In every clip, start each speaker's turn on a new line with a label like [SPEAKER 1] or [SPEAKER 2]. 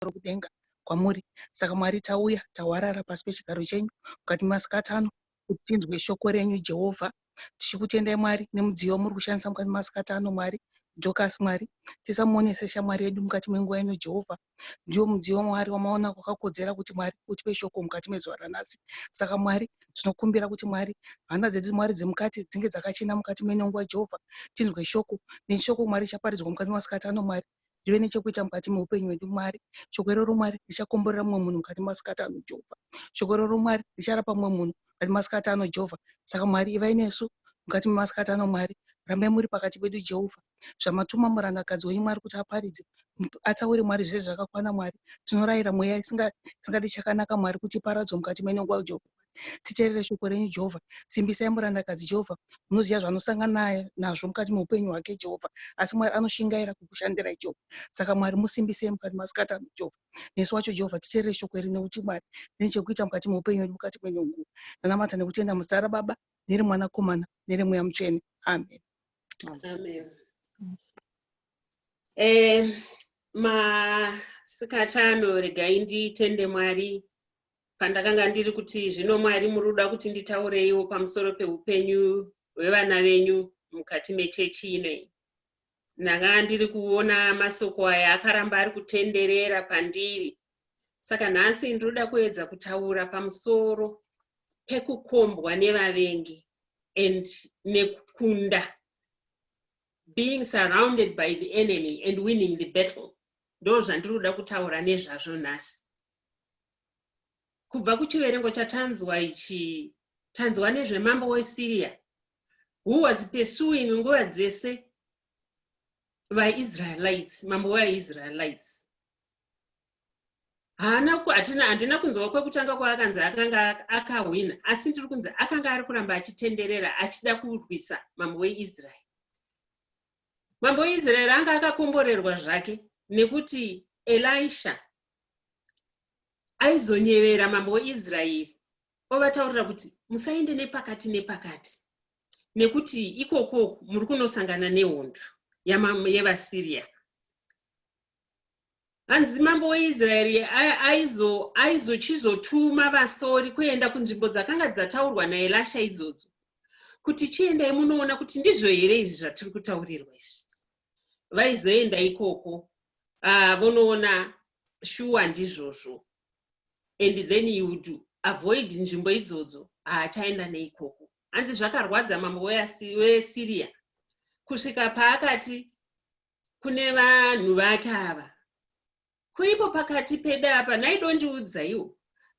[SPEAKER 1] pamusoro kudenga kwamuri. Saka Mwari, tauya, tahwarara pasi pechigaro chenyu mukati memasikati ano kuti tinzwe shoko renyu, Jehovha. Tichikutendai, Mwari, nemudziyo wamuri kushandisa mukati memasikati ano, Mwari. Dorcas, Mwari, tisamuone seshamwari yedu mukati menguva ino, Jehovha. Ndiwo mudziyo waMwari wamaona kwakakodzera kuti, Mwari, utipe shoko mukati mezuva ranhasi. Saka, Mwari, tinokumbira kuti, Mwari, hana dzedu, Mwari, dzemukati dzinge dzakachena mukati meino nguva, Jehovha. Tinzwe shoko. Neshoko, Mwari, richaparidzwa mukati memasikati ano, Mwari. ndive nechekuita mukati meupenyu hwedu mwari shoko iroro mwari richakomborera mumwe munhu mukati masikati ano jehovha shoko iroro mwari richarapa mumwe munhu mukati masikati ano jehovha saka mwari ivai nesu mukati memasikati ano mwari rambai muri pakati pedu jehovha zvamatuma murandakadzi wenyu mwari kuti aparidze ataure mwari zvese zvakakwana mwari tinorayira mweya isingadi chakanaka mwari kuti iparadzwe mukati menongwa jehovha Titerere shoko renyu, Jehovha. Simbisai murandakadzi, Jehovha. Munoziva zvaanosangana nazvo mukati meupenyu hwake, Jehovha. Asi Mwari anoshingaira kukushandirai, Jehovha. Saka Mwari, musimbisei mukati masikati ano, Jehovha. Nesu wacho, Jehovha, titerere shoko iri, nekuti Mwari rine chekuita mukati meupenyu hwedu mukati mwenyu nguva. Ndanamata nekutenda muzita raBaba, nereMwanakomana, nereMweya Mutsvene. Amen. Amen. Eh,
[SPEAKER 2] masikati ano regai nditende Mwari pandakanga ndiri kuti zvino mwari muri kuda kuti nditaureiwo pamusoro peupenyu hwevana venyu mukati mechechi ino iyi ndanga ndiri kuona masoko aya akaramba ari kutenderera pandiri saka nhasi ndinoda kuedza kutaura pamusoro pekukombwa nevavengi and nekukunda being surrounded by the enemy and winning the battle ndo zvandiri kuda kutaura nezvazvo nhasi Kubva kuchiverengo chatanzwa ichi, tanzwa nezvemambo weSiria who was pursuing nguva dzese vaIsraelites, mambo wevaIsraelites. Haana hatina handina kunzwa kwekutanga kwaakanzi akanga akahwina, asi ndiri kunzi akanga ari kuramba achitenderera achida kurwisa mambo weIsrael. Mambo Israeri anga akakomborerwa zvake nekuti Elisha aizonyevera mambo weIsraeri ovataurira kuti musaende nepakati nepakati nekuti ikokoku muri kunosangana nehondo yevasyria hanzi mambo weisraeri aizochizotuma vasori kuenda kunzvimbo dzakanga dzataurwa naelasha idzodzo kuti chiendai munoona kuti ndizvo here izvi zvatiri kutaurirwa izvi vaizoenda ikoko ah, vonoona shuwa ndizvozvo and then you would avoid nzvimbo idzodzo haachaenda ah, neikoko hanzi zvakarwadza mambo weasiriya kusvika paakati kune vanhu vake ava kuipo pakati pedu apa nhai dondiudzaiwo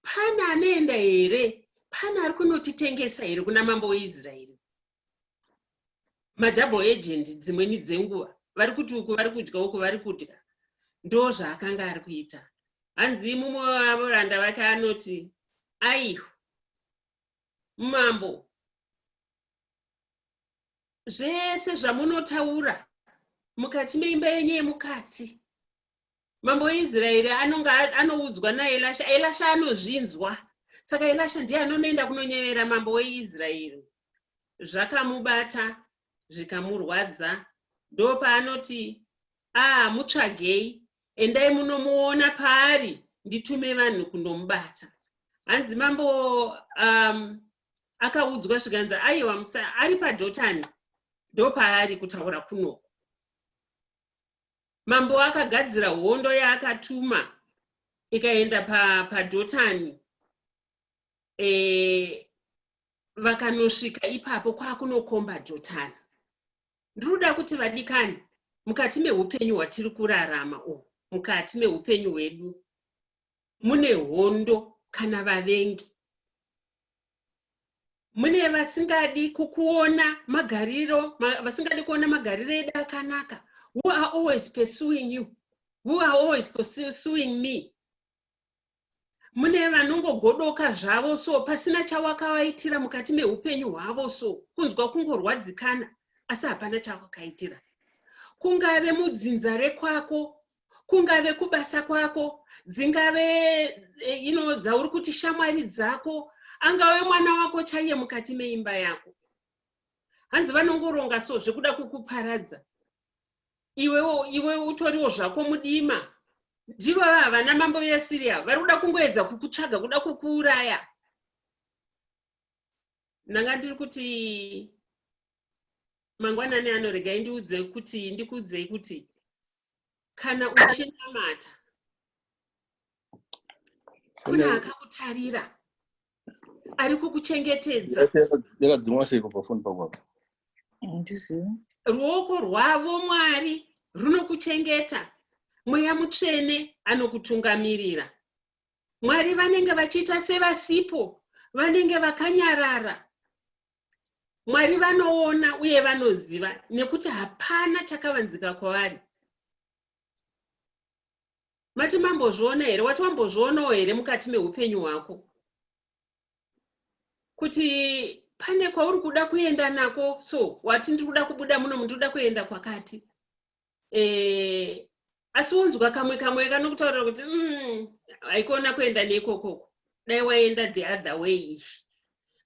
[SPEAKER 2] pane anoenda here pane ari kunotitengesa here kuna mambo weisraeri madouble agent dzimweni dzenguva vari kuti uku vari kudya uku vari kudya ndo zvaakanga ari kuita hanzi mumwe wevoranda vake anoti aiho mambo zvese zvamunotaura mukati meimba yenyu yemukati mambo weisraeri anonga anoudzwa naelasha elasha anozvinzwa saka elasha ndiye anonoenda kunonyevera mambo weisraeri zvakamubata zvikamurwadza ndopaanoti aa ah, mutsvagei endai munomuona paari nditume vanhu kundomubata hanzi mambo um, akaudzwa zvikanzi aiwa musa ari padhotani ndopaari kutaura kunoku mambo akagadzira hondo yaakatuma ikaenda padhotani pa e, vakanosvika ipapo kwakunokomba dhotani ndinoda kuti vadikani mukati meupenyu hwatiri kurarama u mukati meupenyu hwedu mune hondo kana vavengi mune vasingadi kukuona magariro vasingadi kuona magariro edu akanaka who are always pursuing you who are always pursuing me mune vanongogodoka zvavo so pasina chawakavaitira mukati meupenyu hwavo so kunzwa kungorwadzikana asi hapana chawakaitira kungave mudzinza rekwako kungave kubasa kwako dzingave eh, ino dzauri kuti shamwari dzako angave mwana wako chaiye mukati meimba yako hanzi vanongoronga so zvekuda kukuparadza iwewo iwe utoriwo zvako mudima ndivo vava vana mambo veasiriya vari kuda kungoedza kukutsvaga kuda kukuuraya ndanga ndiri kuti mangwanani ano regai ndiudze kuti ndikuudzei kuti kana uchinamata kuna akakutarira ari kukuchengetedza yakadzimwa
[SPEAKER 3] sei kubva foni pangu apo handizivi
[SPEAKER 2] ruoko rwavo mwari runokuchengeta mweya mutsvene anokutungamirira mwari vanenge vachiita sevasipo vanenge vakanyarara Mwari vanoona uye vanoziva nekuti hapana chakavanzika kwavari. Mati mambozviona here? Wati wambozvionawo here mukati meupenyu hwako? Kuti pane kwauri kuda kuenda nako so wati ndiri kuda kubuda muno mundiri kuda kuenda kwakati eh, asi unzwa kamwe kamwe kanokutaurira kuti mm, haikona kuenda neikokoko dai waenda the other way ichi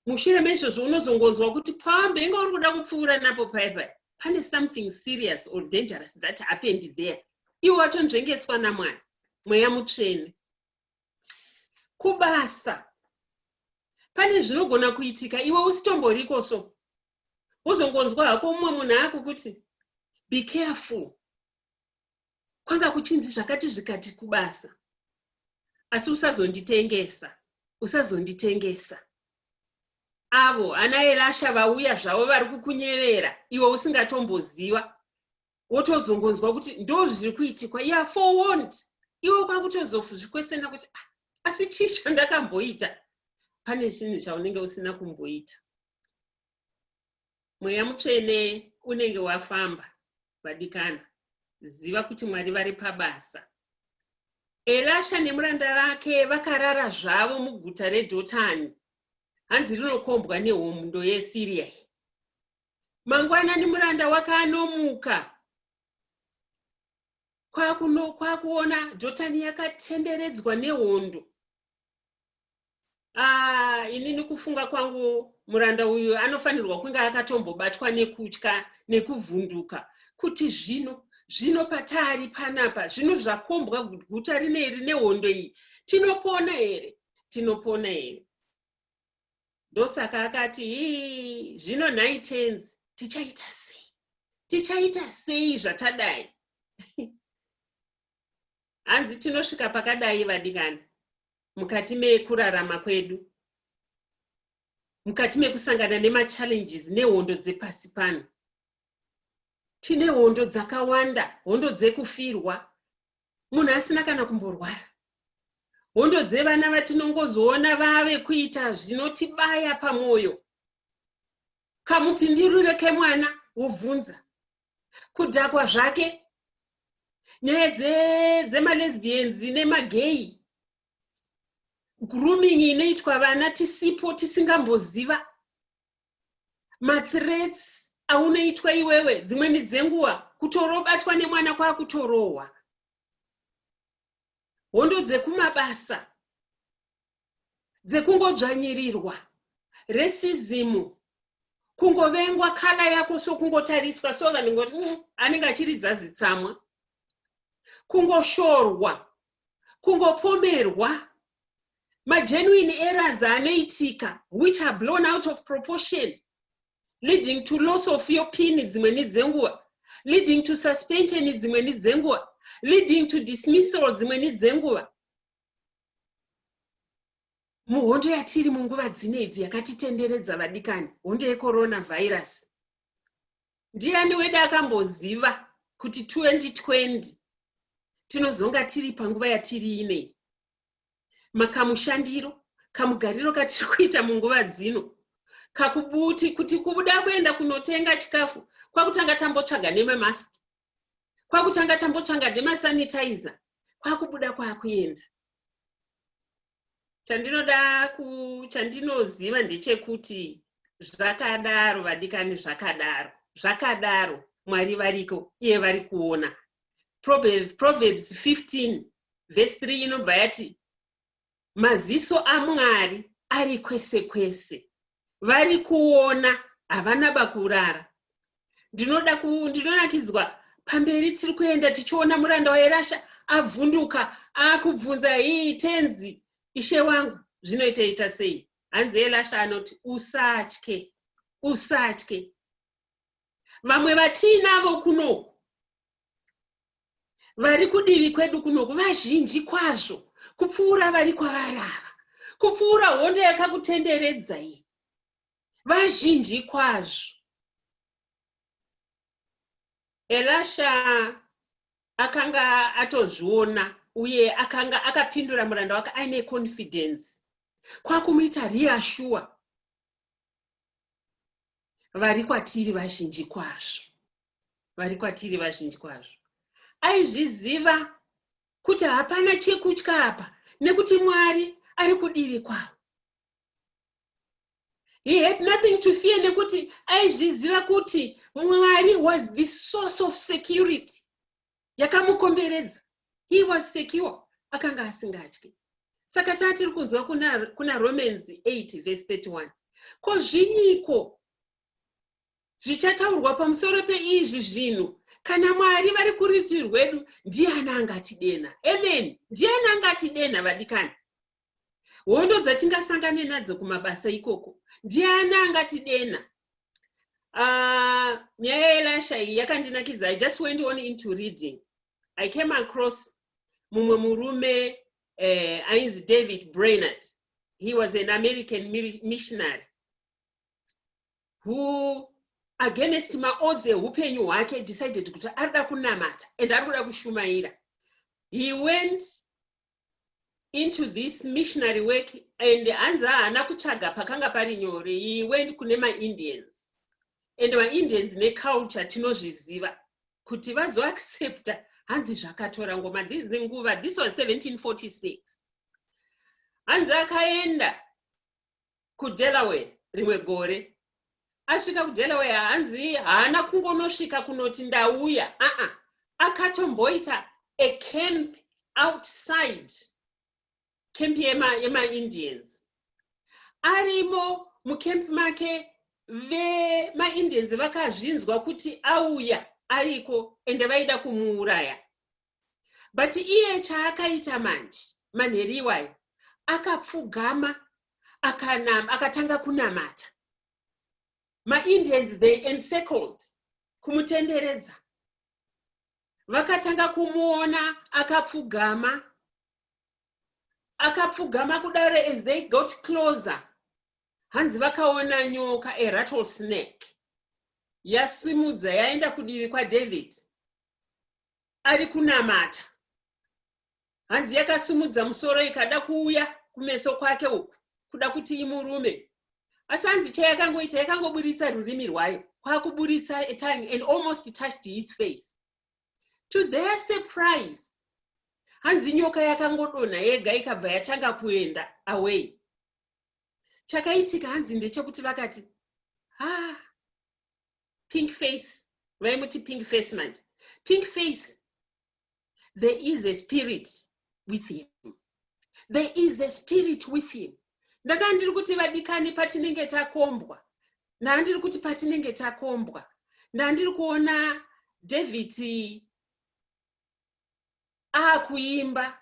[SPEAKER 2] mushure meizvozvo unozongonzwa kuti pambe inga uri kuda kupfuura napo paye paye pane something serious or dangerous that happened there iwe watonzvengeswa namwana mweya mutsvene kubasa pane zvinogona kuitika iwe usitomboriko so wozongonzwa hako mumwe munhu akukuti be careful kwanga kuchinzi zvakati zvikati kubasa asi usazonditengesa usazonditengesa avo ana erasha vauya zvavo vari kukunyevera iwe usingatomboziva wotozongonzwa kuti ndo zviri kuitikwa ya forward iwe kwakutozozvikwesena kuti ah, asi chii chandakamboita pane chinhu chaunenge usina kumboita mweya mutsvene unenge wafamba vadikana ziva kuti mwari vari pabasa elasha nemuranda vake vakarara zvavo muguta redhotani hanzi rinokombwa nehomundo yesiriya mangwanani muranda wakanomuka kwakuona dhotani yakatenderedzwa nehondo Ah, inini kufunga kwangu muranda uyu anofanirwa kunge akatombobatwa nekutya nekuvhunduka kuti zvino zvino pataari panapa zvino zvakombwa guta rinei rine hondo iyi tinopona here tinopona here ndosaka akati ii zvino nhai tenzi tichaita sei tichaita sei zvatadai hanzi tinosvika pakadai vadikani mukati mekurarama kwedu mukati mekusangana nemachallenges nehondo dzepasi pano tine hondo dzakawanda hondo dzekufirwa munhu asina kana kumborwara hondo dzevana vatinongozoona vave kuita zvinotibaya pamwoyo kamupindirire kemwana wobvunza kudhakwa zvake nyaya dzemalesbians dze nemageyi grooming inoitwa vana tisipo tisingamboziva mathreats aunoitwa iwewe dzimwe midzenguva kutorobatwa nemwana kwakutorohwa hondo dzekumabasa dzekungodzvanyirirwa, racism, kungovengwa kala yako so kungotariswa so vanhu ngoti mm, anenge achiridza zitsamwa, kungoshorwa, kungopomerwa magenuine errors anoitika which are blown out of proportion leading to loss of your pin dzimwe ni dzenguva leading to suspension dzimwe ni dzenguva leading to dismissal dzimwe ni dzenguva muhondo yatiri munguva dzine idzi yakatitenderedza vadikani hondo yecorona virus ndiani wede akamboziva kuti 2020 tinozonga tiri panguva yatiri inei makamushandiro kamugariro katiri kuita munguva dzino kakubuti kuti kubuda kuenda kunotenga chikafu kwakutanga tambotsvaga nememask kwakutanga tambotsvanga demasanitizer kwakubuda kwakuenda chandinoda chandinoziva ndechekuti zvakadaro vadikani zvakadaro zvakadaro mwari variko iye vari kuona proverbs 15 vhesi 3 inobva yati maziso aMwari ari kwese kwese. Vari kuona, havana bakurara. Ndinoda ku, ndinonakidzwa pamberi tiri kuenda tichiona muranda wairasha avhunduka akubvunza hii tenzi ishe wangu zvinoita ita sei hanzi elasha anoti usatye usatye vamwe vatiinavo kunoku vari kudivi kwedu kunoku vazhinji kwazvo kupfuura vari kwavari ava kupfuura hondo yakakutenderedzai vazhinji kwazvo elasha akanga atozviona uye akanga akapindura muranda wake aine confidence kwakumuita reasure vari kwatiri vazhinji kwazvo vari kwatiri vazhinji kwazvo aizviziva kuti hapana chekutya apa nekuti mwari ari kudivi kwavo he had nothing to fear nekuti aizviziva kuti mwari was the source of security yakamukomberedza he was secure akanga asingatyi saka taa tiri kunzwa kuna, kuna romans 8 vese 31 ko zvinyiko zvichataurwa pamusoro peizvi zvinhu kana mwari vari kuriti rwedu ndiani angatidenha amen ndiani angatidenha vadikani hondo dzatingasangane nadzo kumabasa ikoko ndiani angatidenha ah, nyaya yelasha iyi yakandinakidza i just went on into reading i came across mumwe murume eh, ainzi david brainard he was an american missionary who against maodzi eupenyu hwake decided kuti ari da kunamata and ari kuda kushumaira he went into this missionary work and hanzi haana kutsvaga pakanga pari nyore he went kune maindians and maindians neculture tinozviziva kuti vazoaccepta hanzi zvakatora ngoma the nguva this was 1746 hanzi akaenda kudelaware rimwe gore asvika kudelaware hanzi haana kungonosvika kunoti ndauya aa akatomboita acamp outside camp yemaindians yema arimo mucamp make vemaindians vakazvinzwa kuti auya ariko ende vaida kumuuraya but iye chaakaita manje manheru iwayo akapfugama akanam akatanga kunamata maindians they encircled kumutenderedza vakatanga kumuona akapfugama akapfugama kudaro as they got closer hanzi vakaona nyoka a rattle snake yasimudza yaenda kudivi kwadavid ari kunamata hanzi yakasimudza musoro ikada kuuya kumeso kwake uku kuda kuti imurume asi hanzi chayakangoita yakangoburitsa rurimi rwayo kwakuburitsa atongue and almost touched his face to their surprise hanzi nyoka yakangodonha yega ikabva yatanga kuenda away chakaitika hanzi ndechekuti vakati ha ah, pink face vaimuti pink face manje pink face there is a spirit with him there is a spirit with him ndakaa ndiri kuti vadikani patinenge takombwa ndaa ndiri kuti patinenge takombwa ndaa ndiri kuona david aakuimba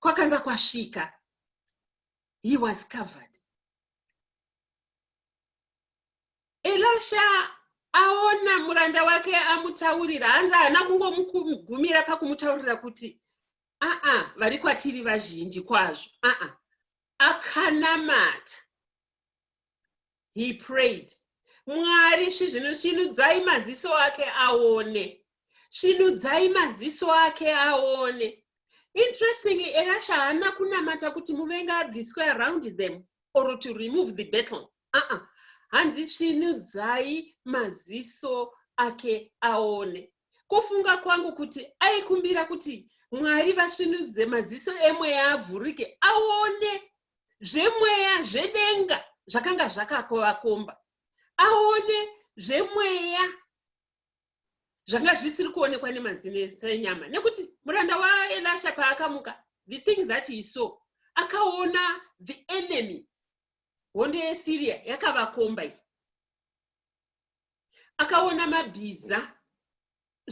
[SPEAKER 2] kwakanga kwasvika he was covered elasha aona muranda wake amutaurira hanzi haana kungomugumira pakumutaurira kuti aa vari kwatiri vazhinji kwazvo aa akanamata he prayed mwari svinudzai maziso ake aone svinudzai maziso ake aone interestingly erasha haana kunamata kuti muvenga abviswe around them or to remove the battle aa hanzi svinudzai maziso ake aone kufunga kwangu kuti aikumbira kuti mwari vasvinudze maziso emweya avhurike aone zvemweya zvedenga zvakanga zvakakovakomba aone zvemweya zvanga zvisiri kuonekwa nemazino ese enyama nekuti muranda waelasha paakamuka the thing that he saw akaona the enemy hondo yesyria yakavakomba iyi akaona mabhiza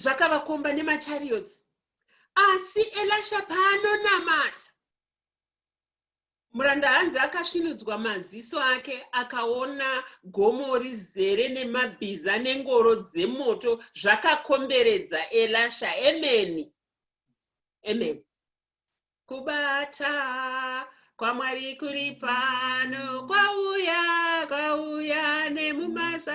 [SPEAKER 2] zvakavakomba nemachariots asi elasha paanonamata Muranda hanzi akasvinudzwa maziso ake akaona gomo rizere nemabhiza nengoro dzemoto zvakakomberedza Elasha. Amen. Amen. Kubata kwaMwari kuri pano kwauya kwauya nemumasa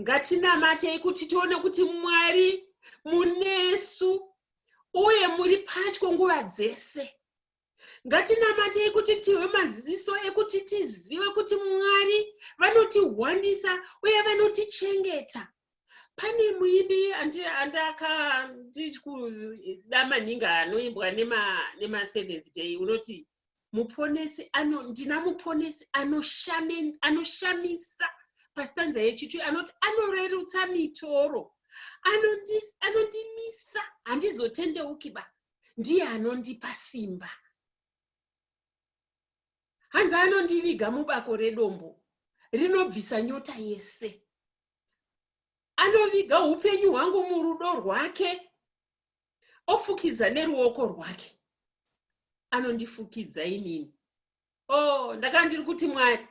[SPEAKER 2] ngatinamatei kuti tione kuti mwari munesu uye muri patyo nguva dzese ngatinamatei kuti tive maziso ekuti tizive kuti mwari vanotihwandisa uye vanotichengeta pane muimbi andakandikuda maningi anoimbwa nemaseventh day unoti muponesi ano ndina muponesi anoshamisa pastanza yechitu anoti anorerutsa mitoro anondimisa handizotendeuki ba ndiye anondipa simba hanzi anondiviga mubako redombo rinobvisa nyota yese anoviga upenyu hwangu murudo rwake ofukidza neruoko rwake anondifukidza inini o oh, ndakanga ndiri kuti mwari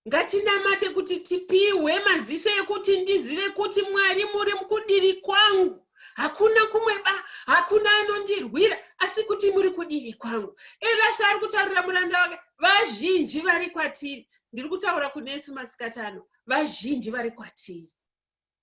[SPEAKER 2] ngatinamate kuti tipihwe maziso ekuti ndizive kuti mwari muri kudivi kwangu hakuna kumwe ba hakuna anondirwira asi kuti muri kudivi kwangu evasha ari kutaurira muranda wake vazhinji vari kwatiri ndiri kutaura kunesu masikatano vazhinji vari kwatiri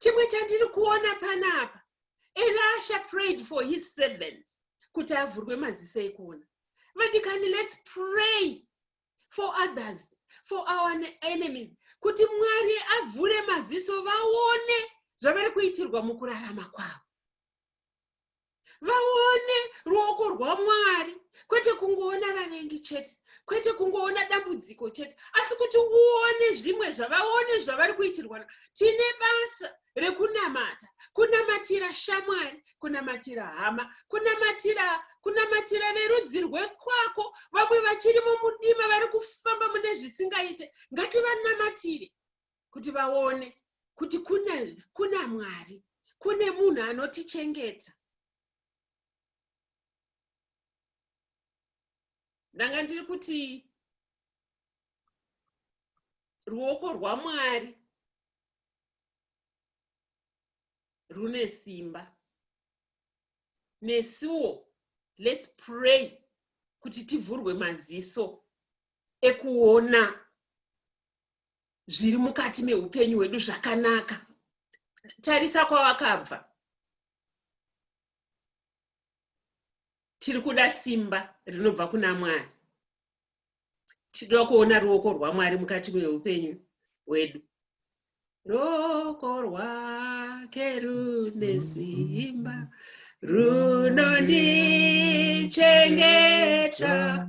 [SPEAKER 2] chimwe chandiri kuona panapa elasha prayed for his servants kuti avhurwe maziso ekuona vadikani let's pray for others for our enemies kuti mwari avhure maziso vaone zvavari kuitirwa mukurarama kwavo vaone ruoko rwamwari kwete kungoona vavengi chete kwete kungoona dambudziko chete asi kuti uone zvimwe zvavaone zvavari kuitirwa tine basa rekunamata kunamatira shamwari kunamatira hama kunamatira kunamatira verudzi rwekwako vamwe vachiri mumudima vari kufamba mune zvisingaite ngativanamatire kuti vaone kuti kuna, kuna mwari kune munhu anotichengeta ndanga ndiri kuti ruoko rwamwari rune simba nesuwo let's pray kuti tivhurwe maziso ekuona zviri mukati meupenyu hwedu zvakanaka tarisa kwawakabva tiri kuda simba rinobva kuna mwari tinoda kuona ruoko rwamwari mukati meupenyu hwedu ruoko rwake rune simba runondichengeta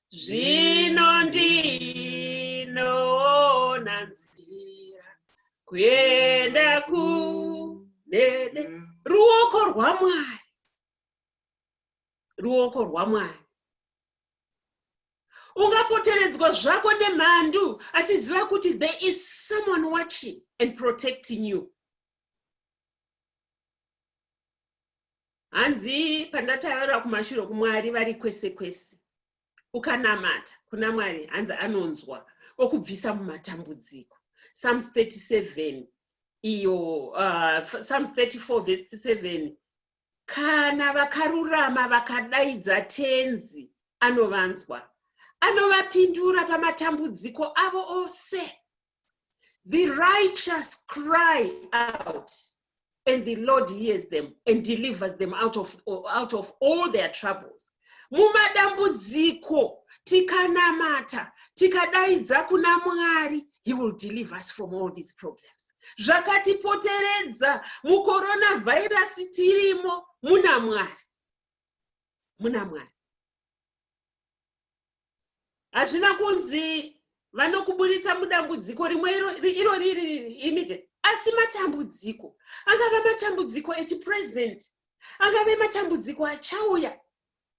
[SPEAKER 2] zvino ndinoona nzira kuenda kunene ruoko rwamwari ruoko rwamwari ungapoteredzwa zvako nemhandu asi ziva kuti there is someone watching and protecting you hanzi pandataura kumashure kumwari vari kwese kwese ukanamata kuna mwari hanzi anonzwa okubvisa mumatambudziko psalms 37 iyo uh, psalms 34 vhesi 7 kana vakarurama vakadaidza tenzi anovanzwa anovapindura pamatambudziko avo ose The righteous cry out, and the Lord hears them and delivers them out of, out of all their troubles. mumadambudziko tikanamata tikadaidza kuna mwari he will deliver us from all these problems zvakatipoteredza mukoronavhairasi tirimo muna mwari muna mwari hazvina kunzi vanokuburitsa mudambudziko rimwe iro riri imite asi matambudziko angave matambudziko echipresent angave matambudziko achauya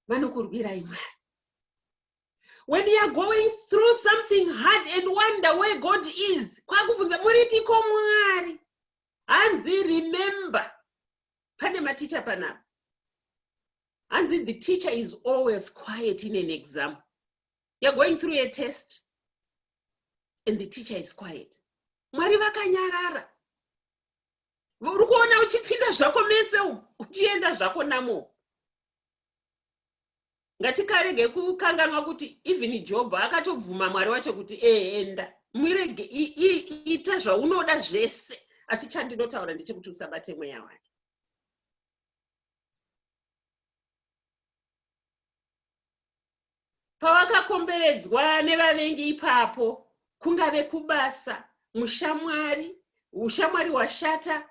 [SPEAKER 2] vanokurwirai mwari when you are going through something hard and wonder where god is kwakubvunza muripiko mwari hanzi remember pane maticha panapa hanzi the teacher is always quiet in an exam you're going through a test and the teacher is quiet mwari vakanyarara uri kuona uchipinda zvako mese uchienda zvako namo ngatikarege kukanganwa kuti even job akatobvuma mwari wacho kuti eenda mwirege ita zvaunoda zvese asi chandinotaura ndechekuti usabate mweya wake pawakakomberedzwa nevavengi ipapo kungave kubasa mushamwari ushamwari hwashata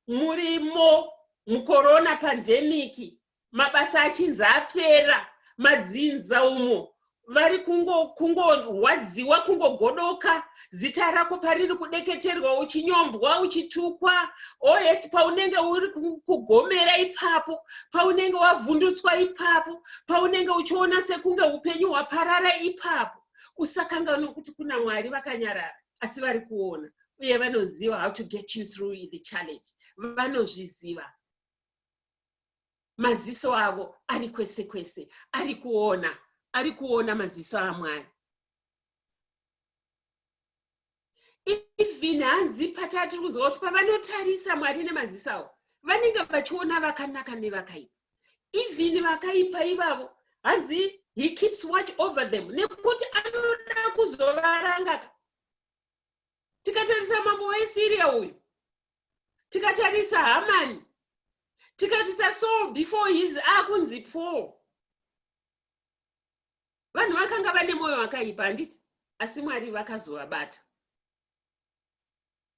[SPEAKER 2] murimo mukorona pandemiki mabasa achinzi apera madzinza umo vari kungorwadziwa kungo kungogodoka zita rako pariri kudeketerwa uchinyombwa uchitukwa os oh, paunenge uri kugomera ipapo paunenge wavhundutswa ipapo paunenge uchiona sekunge upenyu hwaparara ipapo usakanganwe kuti kuna mwari vakanyarara asi vari kuona uye vanoziva how to get you through the challenge vanozviziva maziso avo ari kwese kwese ari kuona ari kuona maziso amwari even hanzi patati kunzwa kuti pavanotarisa mwari nemaziso avo vanenge vachiona vakanaka nevakaipa even vakaipa ivavo hanzi he keeps watch over them nekuti anoda kuzovarangaka tikatarisa mambo wesyria uyu tikatarisa hamani tikatarisa saul before his akunzi paul vanhu vakanga vane mwoyo wakaipa handiti asi mwari vakazovabata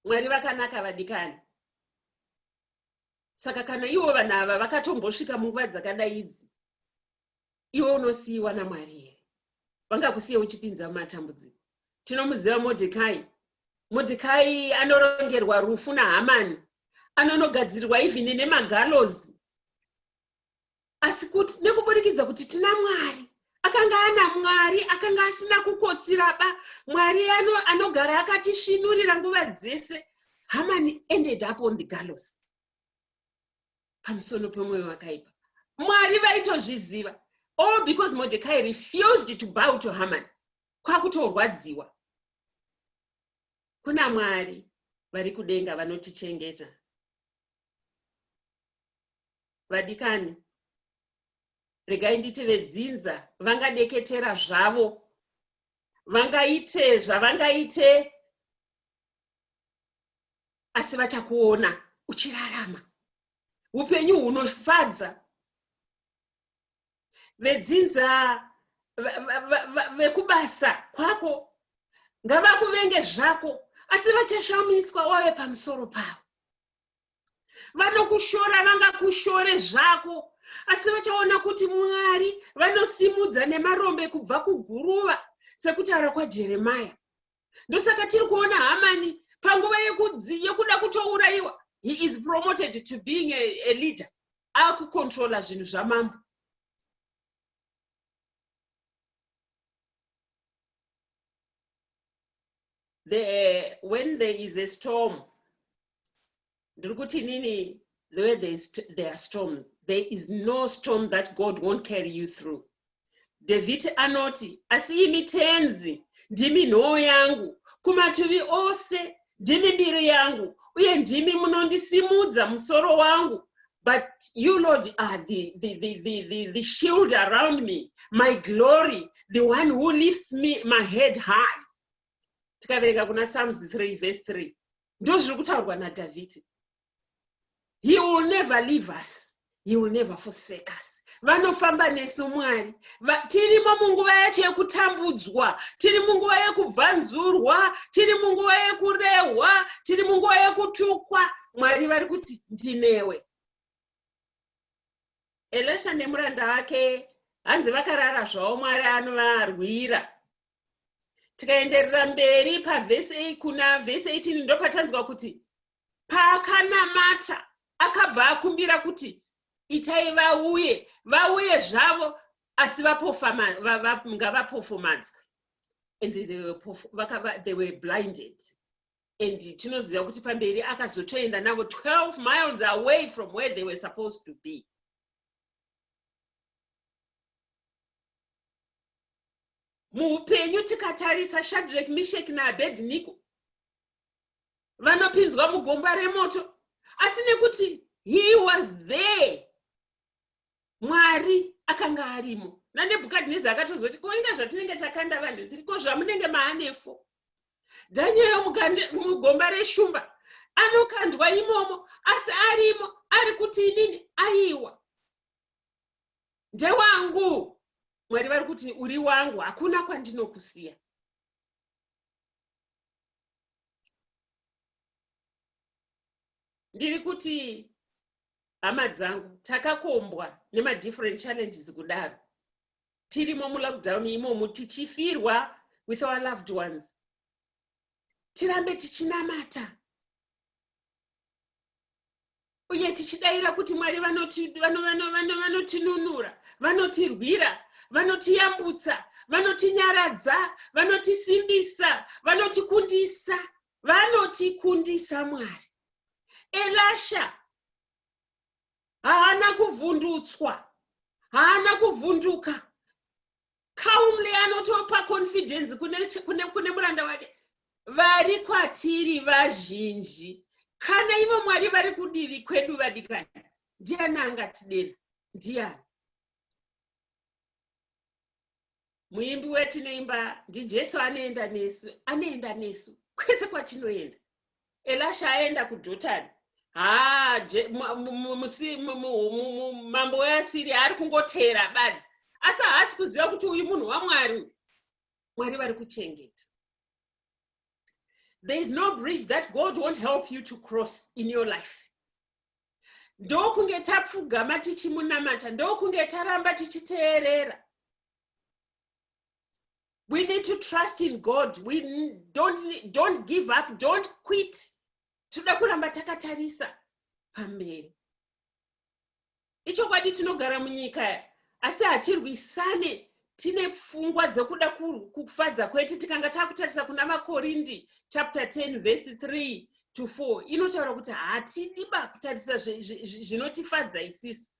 [SPEAKER 2] mwari vakanaka vadikani saka kana ivo vanhu ava vakatombosvika munguva dzakadai idzi iwe unosiyiwa namwari here vangakusiye uchipinza mumatambudziko tinomuziva modhekai modhekai anorongerwa rufu nahamani anonogadzirirwa even nemagalozi asi kuti nekuburikidza kuti tina mwari akanga ana mwari akanga asina kukotsiraba mwari ano anogara akatisvinurira nguva dzese hamani ended up on the gallows pamusoro pemwoyo wakaipa mwari vaitozviziva all oh, because mordecai refused to bow to haman kwakutorwadziwa kuna mwari vari kudenga vanotichengeta vadikani regai nditi vedzinza vangadeketera zvavo vangaite zvavangaite asi vachakuona uchirarama upenyu hunofadza vedzinza vekubasa kwako ngavakuvenge zvako asi vachashamiswa wave pamusoro pavo vanokushora vangakushore zvako asi vachaona kuti mwari vanosimudza nemarombe kubva kuguruva sekutaura kwajeremaya ndosaka tiri kuona hamani panguva yekuda kutourayiwa he is promoted to being a, a leader akukontrola zvinhu zvamambo the, when there is a storm ndiri kuti inini the way there, is, there are storms there is no storm that god won't carry you through dhavhidhi anoti asi imi tenzi ndimi nhoo yangu kumativi ose ndimi mbiri yangu uye ndimi munondisimudza musoro wangu but you lord are the, the, the, the, the, the shield around me my glory the one who lifts me my head high tikaverenga kuna psalms 3 verse 3 ndozviri kutaurwa nadhavhidhi he will never leave us he will never forsake us vanofamba nesu mwari tirimo munguva yacho yekutambudzwa tiri munguva yekubvanzurwa tiri munguva yekurehwa tiri munguva yekutukwa mwari vari kuti ndinewe elisha nemuranda wake hanzi vakarara zvavo mwari anovarwira tikaenderera mberi pavhesi kuna vhesi 18 ndopatanzwa kuti paakanamata akabva akumbira kuti itai vauye vauye zvavo asi ngavapofomadzwe and they were blinded and tinoziva kuti pamberi akazotoenda navo 12 miles away from where they were supposed to be muupenyu tikatarisa shadrek mishek naabednigo vanopinzwa mugomba remoto asi nekuti he was there mwari akanga arimo nanebhukadhineza akatozoti ko inga zvatinenge takanda vanhu tiri ko zvamunenge maanefo dhanyero mugomba reshumba anokandwa imomo asi arimo ari kuti inini aiwa ndewangu mwari vari kuti uri wangu hakuna kwandinokusiya ndiri kuti hama dzangu takakombwa nemadifferent challenges kudaro tirimo mulockdown imomo tichifirwa with our loved ones tirambe tichinamata uye tichidaira kuti mwari vanotinunura vanotirwira vanotiyambutsa vanotinyaradza vanotisimbisa vanotikundisa vanotikundisa mwari elasha haana kuvhundutswa haana kuvhunduka calmly anotopa confidence kune, kune, kune muranda wake vari kwatiri vazhinji kana ivo mwari vari kudivi kwedu vadikani ndiani angatidena ndiani muimbi wetinoimba ndijesu anoenda nesu anoenda nesu kwese kwatinoenda elasha aenda kudhotani haa mambo weasiri ari kungoteera badzi asi haasi kuziva kuti uyu munhu wamwari uyu mwari vari kuchengeta there is no bridge that god won't help you to cross in your life ndokunge tapfugama tichimunamata ndokunge taramba tichiteerera we need to trust in god we don't, don't give up don't quit tinoda kuramba takatarisa pamberi ichokwadi tinogara munyika asi hatirwisane tine pfungwa dzekuda kufadza kwete tikanga takutarisa kuna makorindi chapter 10 vhesi 3 to 4 inotaura kuti hatidi ba kutarisa zvinotifadza isisu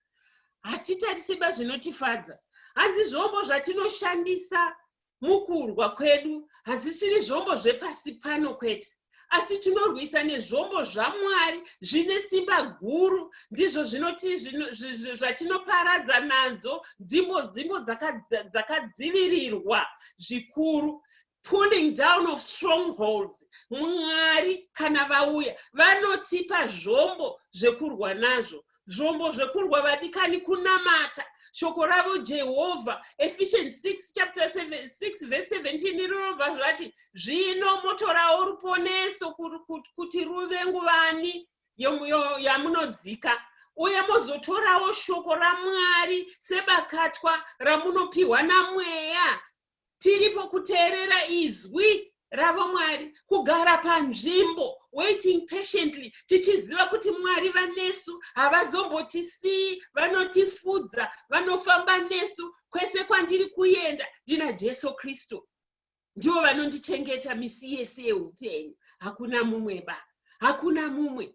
[SPEAKER 2] hatitariseba zvinotifadza hanzi zvombo zvatinoshandisa mukurwa kwedu hazisiri zvombo zvepasi pano kwete asi tinorwisa nezvombo zvamwari zvine simba guru ndizvo zvinoti zvatinoparadza nadzo dzimbo dzimbo dzakadzivirirwa zvikuru pulling down of strongholds mwari kana vauya vanotipa zvombo zvekurwa nazvo zvombo zvekurwa vadikani kunamata shoko ravo jehovha ephesians 6 chapter 6 verse 17 rinobva zvati zvino motorawo ruponeso kuti ruve nguvani yamunodzika uye mozotorawo shoko ramwari sebakatwa ramunopiwa namweya tiripo kuteerera izwi ravo mwari kugara panzvimbo waiting patiently tichiziva kuti mwari vanesu havazombotisiyi vanotifudza vanofamba nesu kwese kwandiri kuenda ndina jesu kristu ndivo vanondichengeta misi yese yeupenyu hakuna mumwe ba hakuna mumwe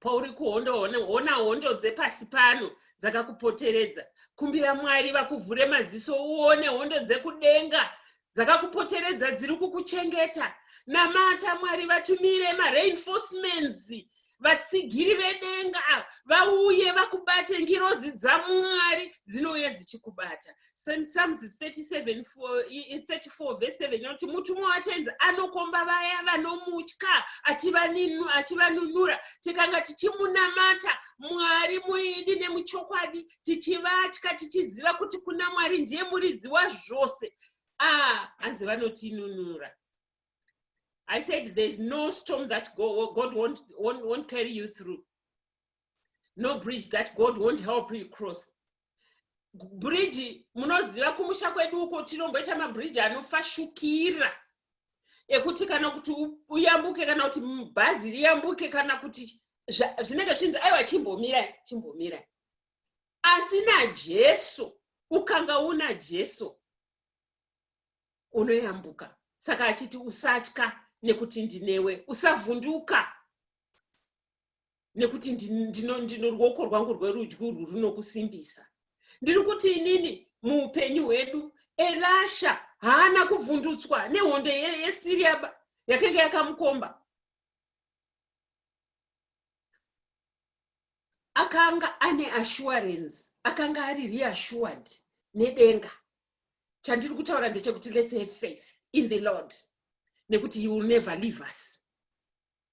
[SPEAKER 2] pauri kuhondo hona hondo dzepasi pano dzakakupoteredza kumbira mwari vakuvhure maziso uone hondo dzekudenga dzakakupoteredza dziri kukuchengeta namata mwari vatumire mareinforcements vatsigiri vedenga vauye vakubate ngirozi dzamwari dzinouya dzichikubata Psalms 37 34 verse 7 inoti mutumwa watenzi anokomba vaya vanomutya achivanunura tikanga tichimunamata mwari muidi nemuchokwadi tichivatya tichiziva kuti kuna mwari ndiye muridzi wazvose a ah, hanzi vanotinunura i said thereis no storm that god won't, won't, won't carry you through no bridge that god won't help you cross bridge munoziva kumusha kwedu uko tinomboita mabridge anofashukira ekuti kana kuti uyambuke kana kuti bhazi riyambuke kana kuti zvinenge zvinzi aiwa chimbomira chimbomira asi najesu ukanga una jesu unoyambuka saka achiti usatya nekuti ndinewe usavhunduka nekuti ndino ndino ruoko rwangu rwerudyi urwu runokusimbisa ndiri kuti inini muupenyu hwedu elasha haana kuvhundutswa nehondo yesiriaba yakenge yakamukomba akanga ane assurance akanga ari reassured nedenga chandiri kutaura ndechekuti let's have faith in the lord nekuti he will never leave us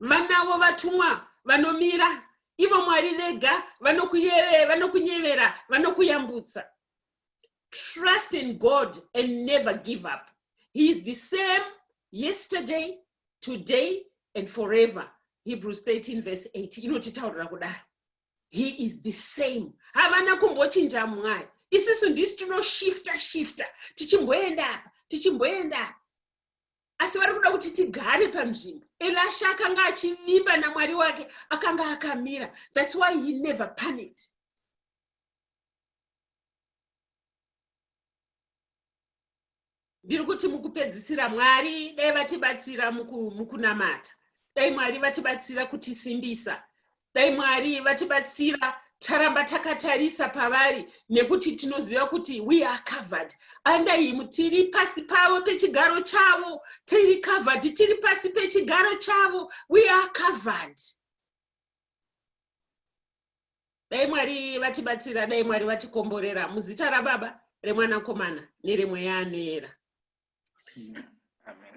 [SPEAKER 2] vanavo vatumwa vanomira ivo mwari vega vanokunyevera vanokuyambutsa trust in god and never give up he is the same yesterday today and forever hebrews 13 verse 8 inotitaurira kudaro he is the same havana kumbochinja mwari isisu ndisi tinoshifta shifta tichimboenda apa tichimboenda apa asi vari kuda kuti tigare panzvimbo elasha akanga achivimba namwari wake akanga akamira thats why he never panicked ndiri kuti mukupedzisira mwari dai vatibatsira mukunamata dai mwari vatibatsira kutisimbisa dai mwari vatibatsira taramba takatarisa pavari nekuti tinoziva kuti we are covered under him tiri pasi pavo pechigaro chavo tiri covered tiri pasi pechigaro chavo we are covered dai mwari vatibatsira dai mwari vatikomborera muzita rababa remwanakomana neremweya anoera Amen.